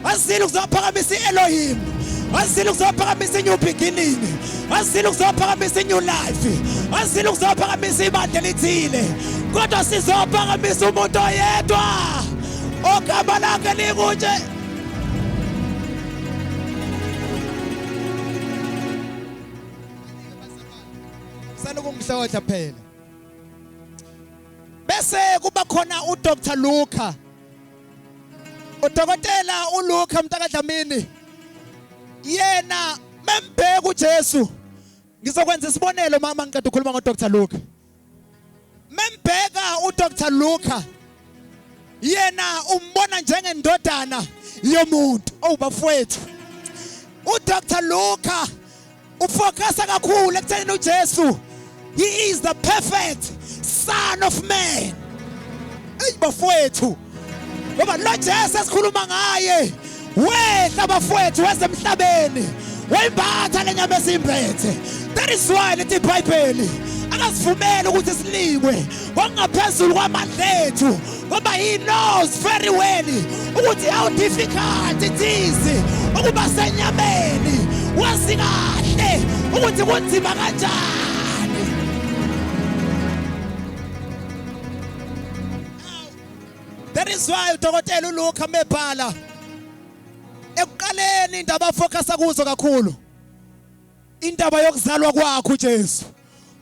azile ukuzophakamisa i-elohim azile ukuzophakamisa i-new beginning azile ukuzophakamisa i-new life azile ukuzophakamisa ibandla elithile kodwa sizophakamisa umuntu oyedwa ogama lakhe likunje ukumhlotha phela bese kuba khona uDr Luca Udokotela uLuke mntakaDlamini yena membheka uJesu ngizokwenza isibonelo mama ngiqeda ukukhuluma ngo Dr Luke membheka u Dr Luke yena umbona njengendodana yomuntu owubafowethu oh, u Dr Luke Ufocus kakhulu ekuthenini uJesu he is the perfect son of man. Ey bafowethu. Ngoba lo Jesu esikhuluma ngaye wehla bafowethu wasemhlabeni wayimbatha lenyama esimbethe that is why lithi ibhayibheli akasivumeli ukuthi silikwe ngokungaphezulu kwamandla ethu ngoba he knows very well ukuthi how difficult it is ukuba senyameni wazi kahle ukuthi kunzima kanjani that is why udokotela uLuka mebhala ekuqaleni indaba focus kuzo kakhulu Indaba yokuzalwa kwakhe uJesu.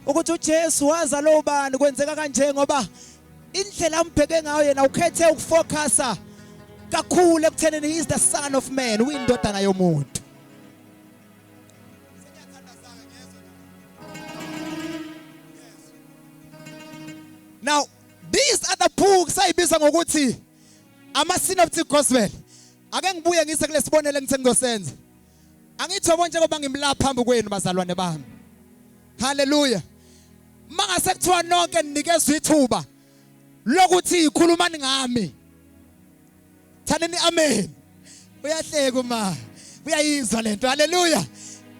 Ukuthi uJesu wazalwa ubani kwenzeka kanje ngoba indlela ambheke ngayo yena ukhethe ukufocusa kakhulu ekuthenini he is the son of man uyindodana yomuntu. Now these other books ayibiza ngokuthi ama synoptic gospel ake ngibuye ngise kulesibonelo engithe ngizosenza Angithobo njengoba ngimla phambi kwenu bazalwane bami. Hallelujah. Mangase kuthiwa nonke ninikezwe ithuba lokuthi ikhulumani ngami. Thanini amen. Uyahleka uma uyayizwa lento. Hallelujah.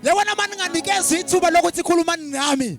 Yabona mani nganikezwe ithuba lokuthi ikhulumani ngami.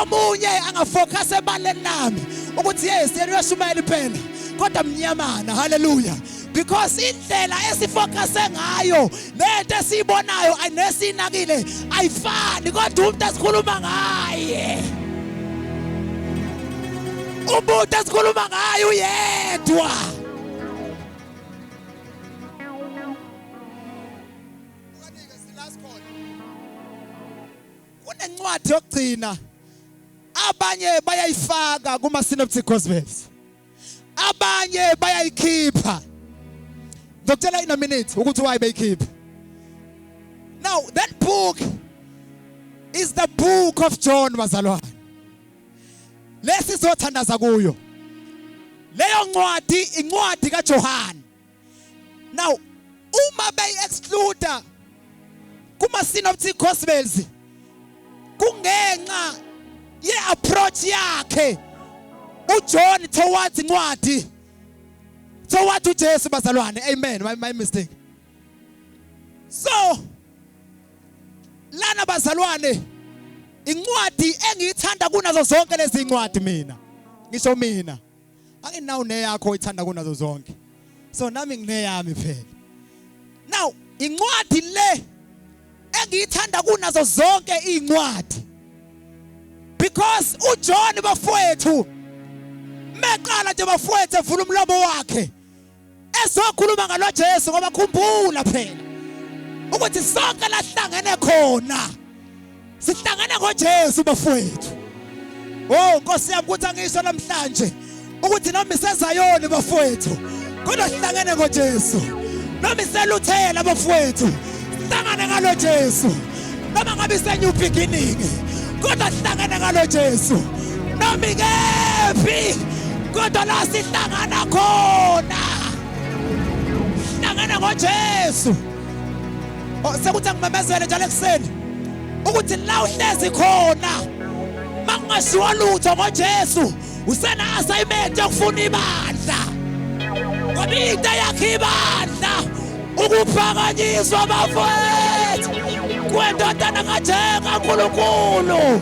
omunye angafocus ebaleni lami ukuthi yes yena uyashumayela iphela kodwa mnyamana haleluya because indlela esifocuse ngayo nento esiyibonayo anesinakile ayifani kodwa umuntu esikhuluma ngaye umuntu esikhuluma ngaye uyedwa kunencwadi yokugcina abanye bayayifaka kuma synoptic gospels abanye bayayikhipha ngizokutshela in a minute ukuthi why beyikhipha now that book is the book of John bazalwane lesi sothandaza kuyo leyo ncwadi incwadi kaJohane now uma beyi exclude kuma synoptic gospels kungenxa ye approach yakhe uJohn towards incwadi towards uJesu bazalwane amen my, my mistake so lana bazalwane incwadi engiyithanda kunazo zonke lezi incwadi mina ngisho mina anginawo neyakho oyithanda kunazo zonke so nami ngineyami phela now incwadi le engiyithanda kunazo zonke incwadi because uJohn bafowethu meqala nje bafowethu evula umlomo wakhe ezokhuluma ngalo Jesu ngoba khumbula phela ukuthi sonke lahlangene khona sihlangene ngoJesu bafowethu oh Nkosi yami ukuthi angisho namhlanje ukuthi noma isezayoni bafowethu kodwa sihlangene ngoJesu noma iseluthela bafowethu hlangane ngalo Jesu noma ngabe ise new beginning kodwa sihlangene ngalo Jesu noma ikephi kodwa la sihlangana khona sihlangene ngoJesu oh, sekuthi angimemezele njalo ekuseni ukuthi la uhlezi khona makungashiwa lutho ngoJesu usena assignment yokufuna ibandla ngoba into yakhe ibandla ukuphakanyiswa bafowethu kwendodana kajenga nkulunkulu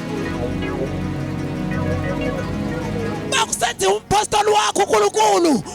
makusenziwa umpostoli wakho unkulunkulu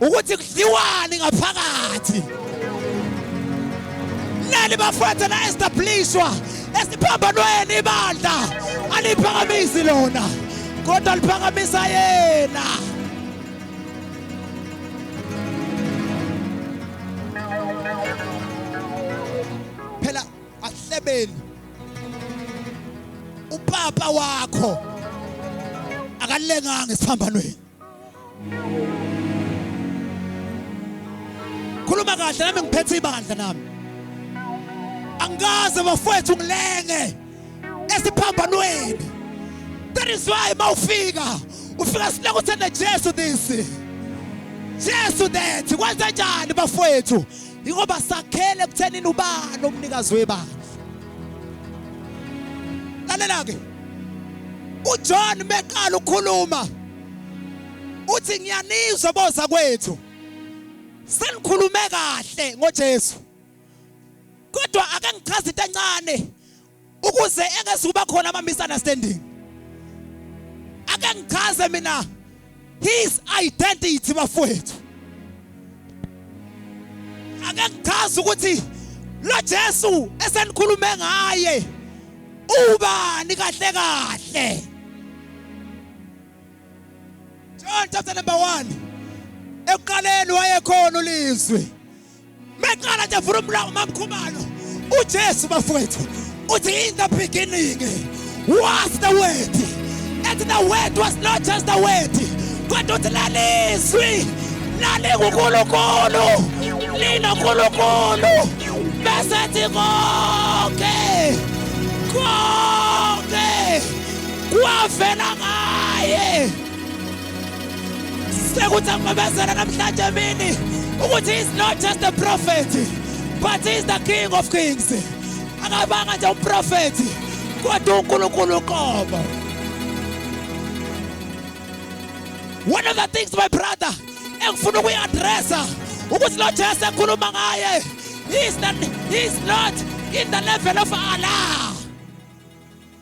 ukuthi kudliwani ngaphakathi nani bafethu la establishwa esiphambanweni ibandla aliphakamisi lona kodwa liphakamisa yena phela ahlebeni upapa wakho akalenganga esiphambanweni khuluma kahle nami ngiphethe ibandla nami angikaze bafowethu ngilenge esiphambanweni that is why mawufika ufika sileke uthanda Jesu this Jesu that kwenza njani bafowethu ingoba sakhele kuthenini ubani umnikazi webandla lalela ke uJohn beqala ukukhuluma uthi ngiyanizwa boza kwethu senikhulume kahle ngoJesu kodwa ake ngichaze into encane ukuze engeze kuba khona ama misunderstanding ake ngichaze mina his identity bafowethu ake ngichaze ukuthi lo Jesu esenikhulume ngaye ubani kahle kahle John chapter number 1 ekuqaleni wayekhona ulizwi Meqala nje vula umlomo mamkhumalo. UJesu bafowethu uthi in the beginning was the word. And the word was not just the word. Kodwa uthi lalizwi lalinguNkulunkulu. Lina uNkulunkulu. Bese thi konke. Konke. Kwavela ngaye. sekuthi angimemezela namhlanje emini ukuthi he is not just a prophet but he is the king of kings akabanga nje umprofethi kodwa unkulunkulu uqobo one of the things my brother engifuna ukuyi-adressa ukuthi lo jesu ekhuluma ngaye he is not in the level of allah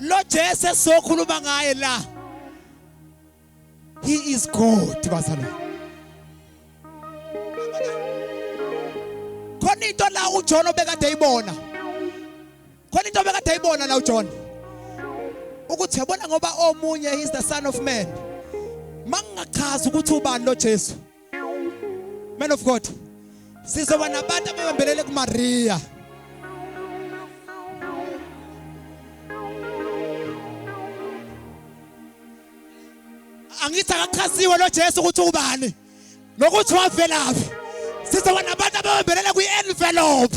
lo Jesu esizokhuluma ngaye la he is God bazalwane khona into la uJohn obekade eyibona khona into obekade eyibona la uJohn ukuthi yabona ngoba omunye is the son of man mangingachaza ukuthi ubani lo Jesu Man of God. Sizoba nabantu ababambelele kuMaria. Angithi akachaziwe lo Jesu ukuthi ubani. Nokuthi wavelaphi. Sizoba nabantu ababambelele kwi-envelope.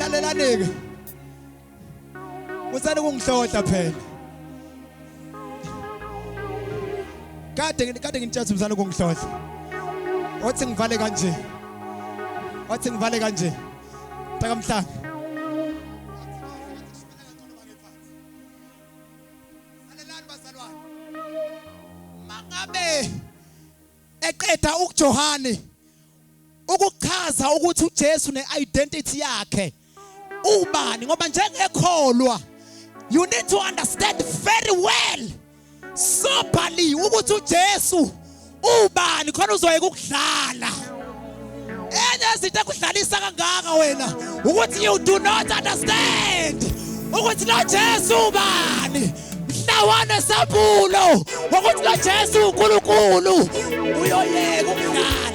Lalelani-ke. Musani ukungihlohla phela. Kade ngi- kade ngintshela musani ukungihlohla. Wathi ngivale kanje. Wathi ngivale kanje. Takamhlanga. Salelani bazalwane. Mangabe eqeda ukuJohane ukuchaza ukuthi uJesu neidentity yakhe ubani ngoba njengekholwa you need to understand very well sobhaliwe ukuthi uJesu ubani khona uzoyeka ukudlala enye izinto ekudlalisa kangaka wena ukuthi you do not understand ukuthi lo Jesu ubani mhlawana sambulo ukuthi lo Jesu uNkulunkulu uyoyeka ukudlala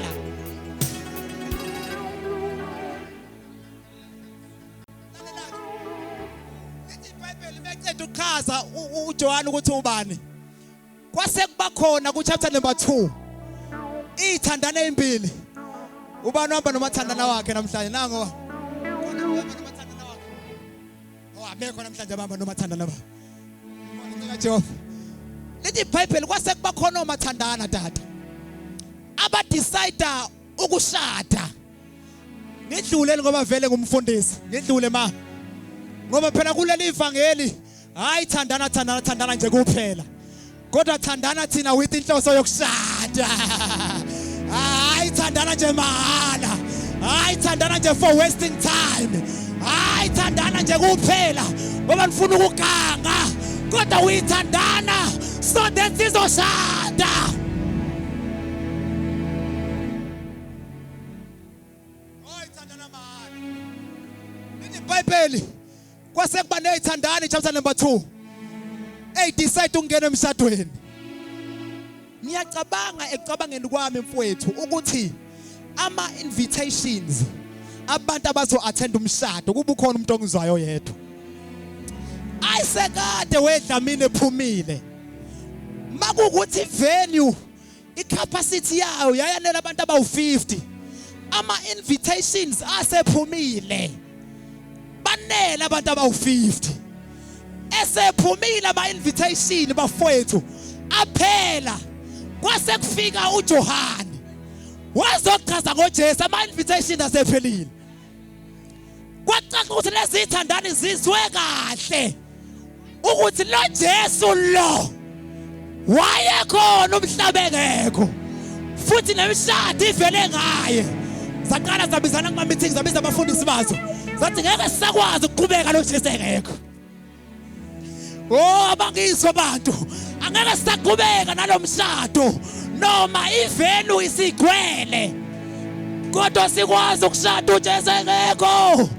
echaza uJohane ukuthi ubani kwase kuba khona ku chapter number 2 ithandana ezimbili ubani uhamba nomathandana wakhe namhlanje nango awabekho oh, namhlanje abamba nomathandana ba ngicela Jehova lithi iBhayibheli kwase kuba khona omathandana tata abadecide ukushada ngidlule ngoba vele ngumfundisi ngidlule ma ngoba phela kuleli ivangeli hayi thandana thandana thandana nje kuphela kodwa thandana thina with inhloso yokushada hayi thandana nje mahala hayi thandana nje for wasting time hayi thandana nje kuphela ngoba nifuna ukuganga kodwa uyithandana so that sizoshada ibhayibheli kwase kuba neyithandani chapter number 2 hey decide ukungena emshadweni ngiyacabanga ekucabangeni kwami mfowethu ukuthi ama invitations abantu abazo attend umshado kuba ukhona umuntu ongizwayo yedwa ayisekade wedlamini ephumile makukuthi venue icapacity yayo yayanela abantu abawu-50 ama-invitations asephumile banele abantu abawu-50 esephumile ama-invitation bafowethu aphela kwase kufika ujohane wazochaza ngojesu ama-invitation asephelile kwacaca ukuthi lezi thandani zizwe kahle ukuthi lo Jesu lo wayekhona umhlaba engekho futhi nemishado ivele ngaye zaqala zabizana kuma meeting zabiza abafundisi bazo zathi ngeke sakwazi ukuqhubeka lo Jesu engekho Oh abangizwa abantu angeke sisaqhubeka nalomshado noma ivenu isigcwele kodwa sikwazi ukushada uJesu engekho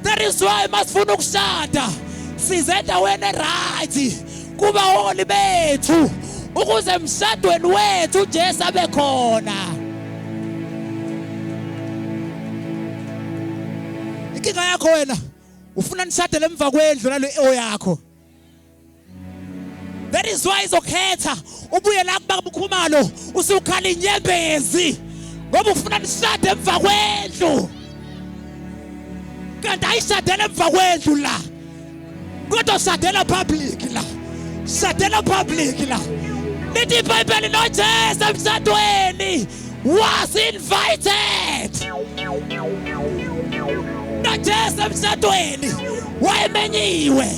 that is why masifuna ukushada size endaweni eright kuba holi bethu ukuze emshadweni wethu uJesu abe khona inkinga yakho wena ufuna nishade lemva kwendlu nalo eo yakho that is why izokhetha ubuye la kuba kukhumalo usukhala inyembezi ngoba ufuna nishade emva kwendlu kanti ayishadela emva kwendlu la kodwa shadela public la shadela public la lithi ibhayibheli nojesu emshadweni was invited najesu emshadweni wayemenyiwe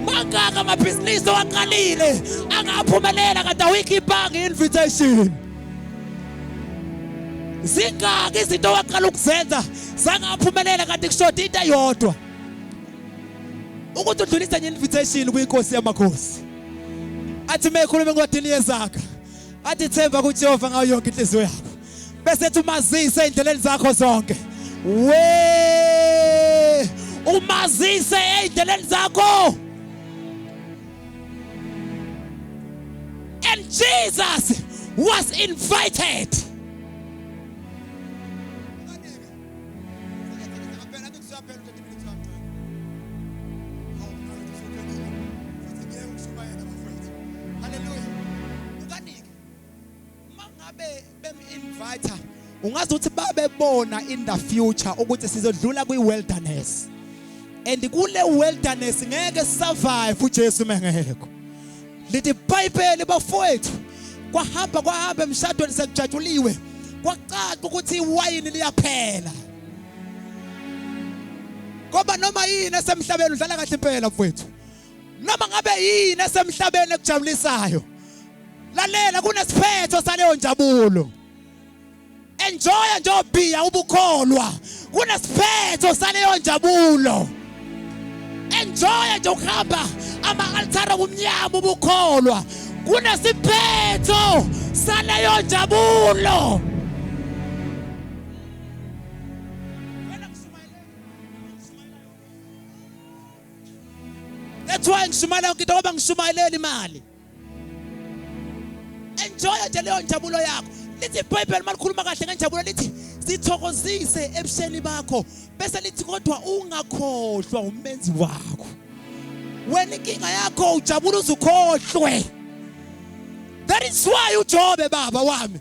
mangaka amabhizinisi owaqalile angaphumelela kade awikhipanga i-invitation zingaki izinto owaqala ukuzenza zangaphumelela kade kushoda into eyodwa ukuthi udlulise nge-invitation kwinkosi yamakhosi athi mekhuluma encwadini yezakha athi themba kuJehova ngayo yonke inhliziyo yakho bese ethi umazise endleleni zakho zonke we umazise endleleni zakho and Jesus was invited ungazi ukuthi babebona in the future ukuthi sizodlula kwi wilderness and kule wilderness ngeke survive uJesu mengekho lithi iBhayibheli bafowethu kwahamba kwahamba emshadweni sekujatshuliwe kwacaca ukuthi iwayini liyaphela ngoba noma yini esemhlabeni udlala kahle impela mfowethu noma ngabe yini esemhlabeni ekujabulisayo lalela kunesiphetho saleyo njabulo enjoya njobhiya ubukholwa kunesiphetho saleyo njabulo enjoya nje ukuhamba ama-altare obumnyama ubukholwa kunesiphetho saleyo njabulo That's why ngishumayela yonke into ngoba ngishumayeleli imali. Enjoy nje leyo njabulo yakho. Lithi iBhayibheli malikhuluma kahle ngenjabulo lithi sithokozise ebusheni bakho bese lithi kodwa ungakhohlwa umenzi wakho. Wena inkinga yakho ujabula uzukhohlwe. That is why uJobe baba wami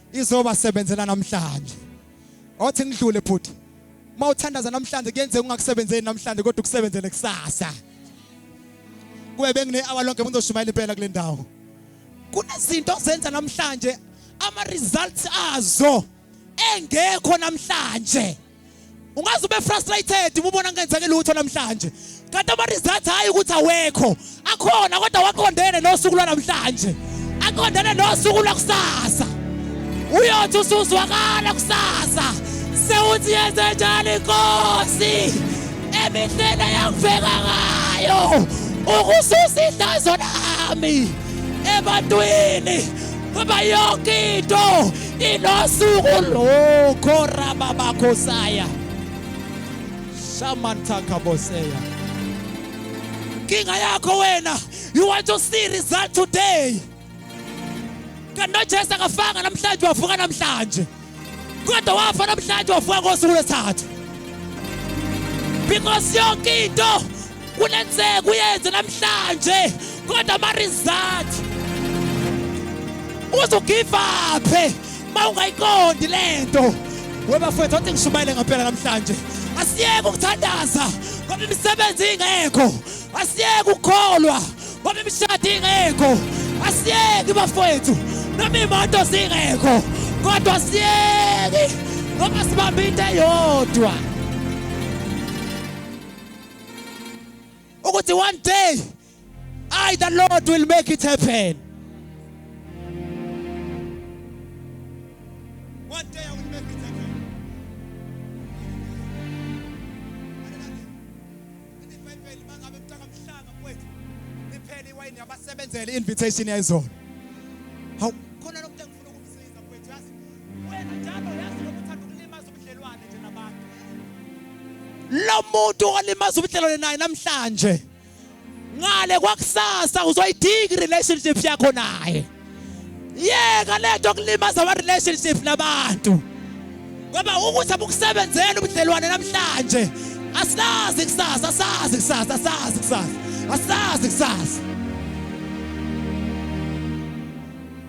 izoba sebenzela namhlanje othi ngidlule futhi uma uthandaza namhlanje kuyenzeka ungakusebenzeli namhlanje kodwa ukusebenzele kusasa kube bengine-hour lonke ngizoshumayela impela kule ndawo kunezinto ozenza namhlanje ama-results azo engekho namhlanje ungaze ube frustrated uma ubona ngenzeke lutho namhlanje kanti ama-results hhayi ukuthi awekho akhona kodwa waqondene nosuku lwanamhlanje aqondene nosuku lwakusasa uyothi usuzwakala kusasa sewuthi yenze njani inkosi emindlela yakuveka ngayo ukususa ihlazo lami ebantwini ngoba yonke into Inosuku lokho rababakho saya. Shamantha kaboseya. Kinga yakho wena, you want to see result today. Kanti noJesu akafanga namhlanje wavuka namhlanje. Kodwa wafa namhlanje wavuka ngosuku lesithathu. Because yonke into kunenzeka uyenze namhlanje kodwa ama-result uzugivaphe ma ungayiqondi le nto webafowethu wathi ngishumayele ngampela namhlanje asiyeke ukuthandaza ngoba imisebenzi ingekho asiyeke ukukholwa ngoba imishado ingekho asiyeki bafowethu noma iy'moto zingekho kodwa asiyeki ngoba sibambe into eyodwa ukuthi one day I the Lord will make it happen one day I will make it happen iwayini yabasebenzela i-invitation yayizona lo muntu olimaza ubudlelwane naye namhlanje ngale kwakusasa uzoyidinga i-relationship yakho naye yeka le nto kulimaza ama-relationship nabantu ngoba ukuthi abukusebenzela ubudlelwane namhlanje asazi kusasa asazi kusasa asazi kusasa asazi kusasa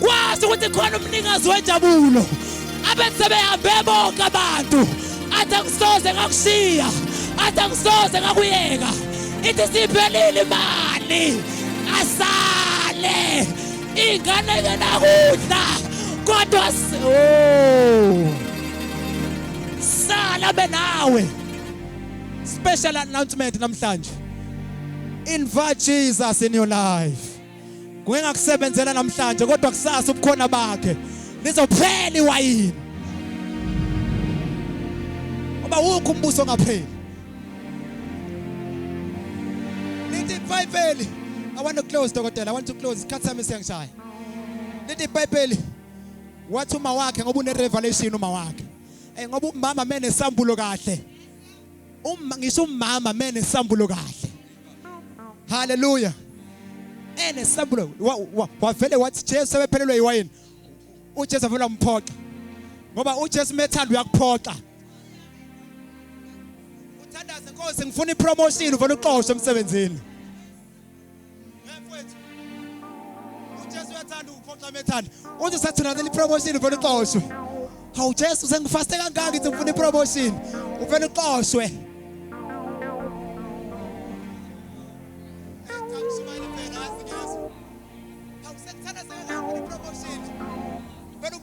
Kwazi ukuthi khona umnikazi wenjabulo abethi sebehambe bonke abantu athi angisoze ngakushiya athi angisoze ngakuyeka ithi siphelile imali asale ingane ngenakudla kodwa oh. sala benawe special announcement namhlanje invite Jesus in your life Ngeke ngakusebenzela namhlanje kodwa kusasa ubukhona bakhe lizophela iwayini. Ngoba wukho umbuso ngapheli. Lithi iBhayibheli I want to close dokotela I want to close isikhathi sami siyangishaya. Lithi iBhayibheli wathi uma wakhe ngoba une revelation uma wakhe. Eh ngoba umama mene sambulo kahle. Uma ngisho umama mene sambulo kahle. haleluya enesambulo wavele wathi jesu ebephelelwe iwayini ujesu avele wamphoxa ngoba ujesu methanda uyakuphoxa uthandaze nkosi ngifuna ipromotion uvele uxoshwe emsebenzini mfowethu uJesu uyathanda ukuphoxa methanda uthi sathunazela ipromotion uvela uxoshwe hawu Jesu sengifaste kangaka ngithi ngifuna ipromotion uvela uxoshwe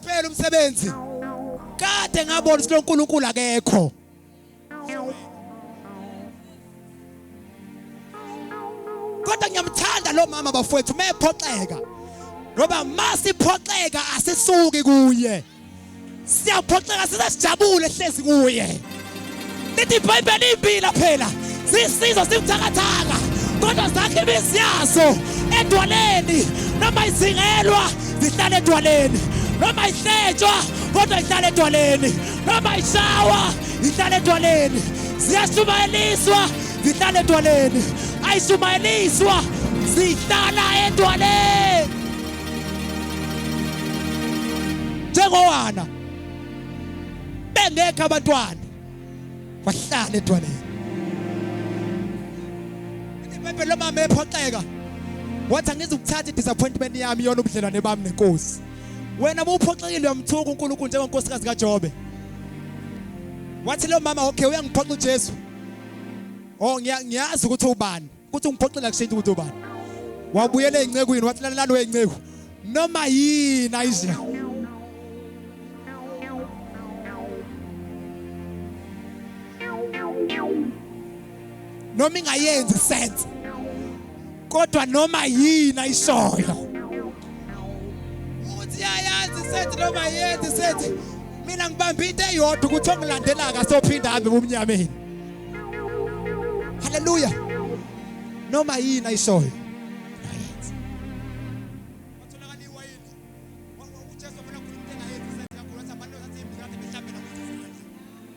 Phela umsebenzi kade ngabona ukuthi uNkulunkulu akekho kodwa ngiyamthanda lo mama bafowethu uma ephoxeka ngoba uma siphoxeka asisuki kuye siyaphoxeka size sijabule hlezi kuye lithi ibhayibheli impila phela sisizo sibuthakathaka kodwa zakhe imizi yazo edwaleni noma izingelwa zihlala edwaleni noma ihletshwa kodwa ihlala edwaleni Noma ishawa ihlale edwaleni, ziyashumayeliswa zihlale edwaleni, ayishumayeliswa zihlala edwaleni njengowana bengekho abantwana wahlala edwaleni. Ibhayibheli lomama ephoxeka wathi angizukuthatha i-disappointment yami yona ubudlelwane bami nenkosi wena muphoxekile uyamthuka uNkulunkulu njengonkosikazi kaJobe wathi lo mama okay uyangiphoxa uJesu oh ngiyazi ukuthi ubani ukuthi ungiphoxela kushintsha ukuthi ubani wabuyela ezincekweni wathi lalelani wezinceku noma yini ayizina noma ingayenzi sense kodwa noma yini ayishoyo uthi yayazi sense noma yenzi sense mina ngibamba into eyodwa ukuthi ongilandela akasophinda hambe bumnyameni haleluya noma yini ayishoyo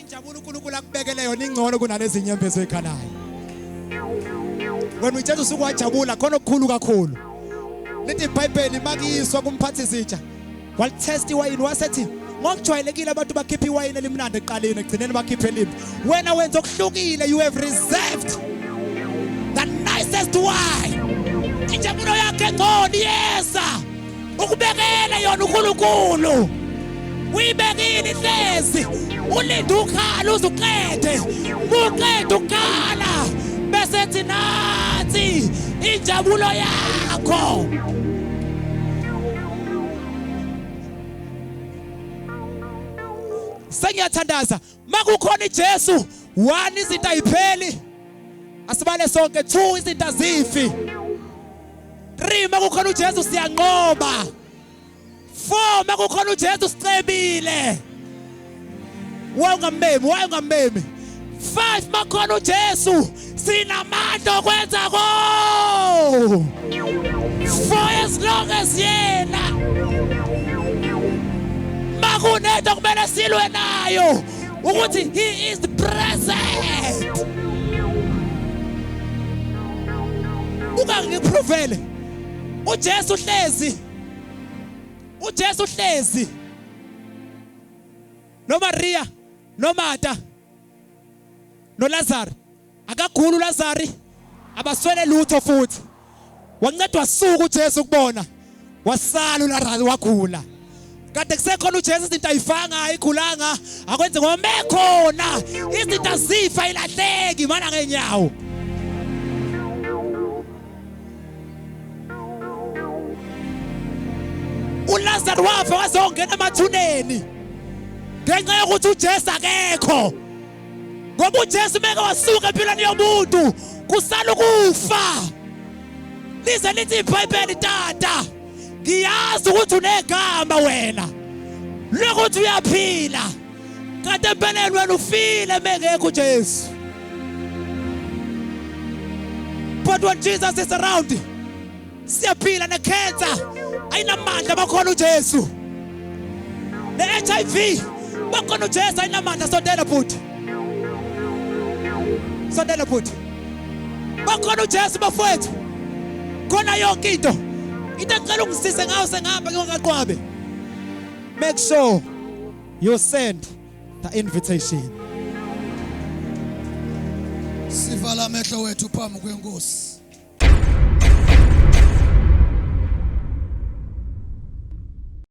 Injabulo uNkulunkulu akubekele yona ingcono kunalezi nyembezo ekhalayo. Wena uJesu usuku wajabula khona okukhulu kakhulu. Lithi iBhayibheli makiyiswa kumphathi izitsha. Walitest iwayini wasethi ngokujwayelekile abantu bakhipha iwayini elimnandi eqaleni egcineni bakhiphe elimbi. Wena wenza okuhlukile you have reserved the nicest wine. Injabulo yakhe ngcono iyeza. ukubekele yona uNkulunkulu uyibekile ihlezi ulinde ukhala uzuqede muqede ukukhala bese ethi nathi injabulo yakho sengiyathandaza makukhona iJesu one izinto ayipheli asibale sonke two izinto azifi three makukhona uJesu siyanqoba four makukhona uJesu sicebile wawungambemi wawungambemi five makhona uJesu sinamandla okwenza ko for as long as yena makunento kumele silwe nayo ukuthi he is present ungangiprovele uJesu uhlezi uJesu uhlezi noMaria noMata nolazaro akaguli ulazari abaswele lutho futhi wancedwa wasuka ujesu kubona wasala ulazari wagula kade kusekhona ujesu izinto ayifanga ayigulanga akwenze ngoba mekhona izinto azifa ilahleki mana ngenyawo uLazaro wafa wazongena emathuneni ngenxa yokuthi uJesu akekho ngoba uJesu meke wasuka empilweni yomuntu kusala ukufa lize lithi iBhayibheli tata ngiyazi ukuthi unegama wena lokuthi uyaphila Kade empeleni wena ufile mengekho uJesu. But when Jesus is around, siyaphila ne cancer ayinamandla bakhona uJesu. Ne HIV bakhona uJesu ayinamandla sondela bhuti. Sondela bhuti. Bakhona uJesu bafowethu. Khona yonke into. Into ecela ungisise ngayo sengihamba ngingaqwabe. Make sure you send the invitation sivala amehlo wethu phambi kwenkosi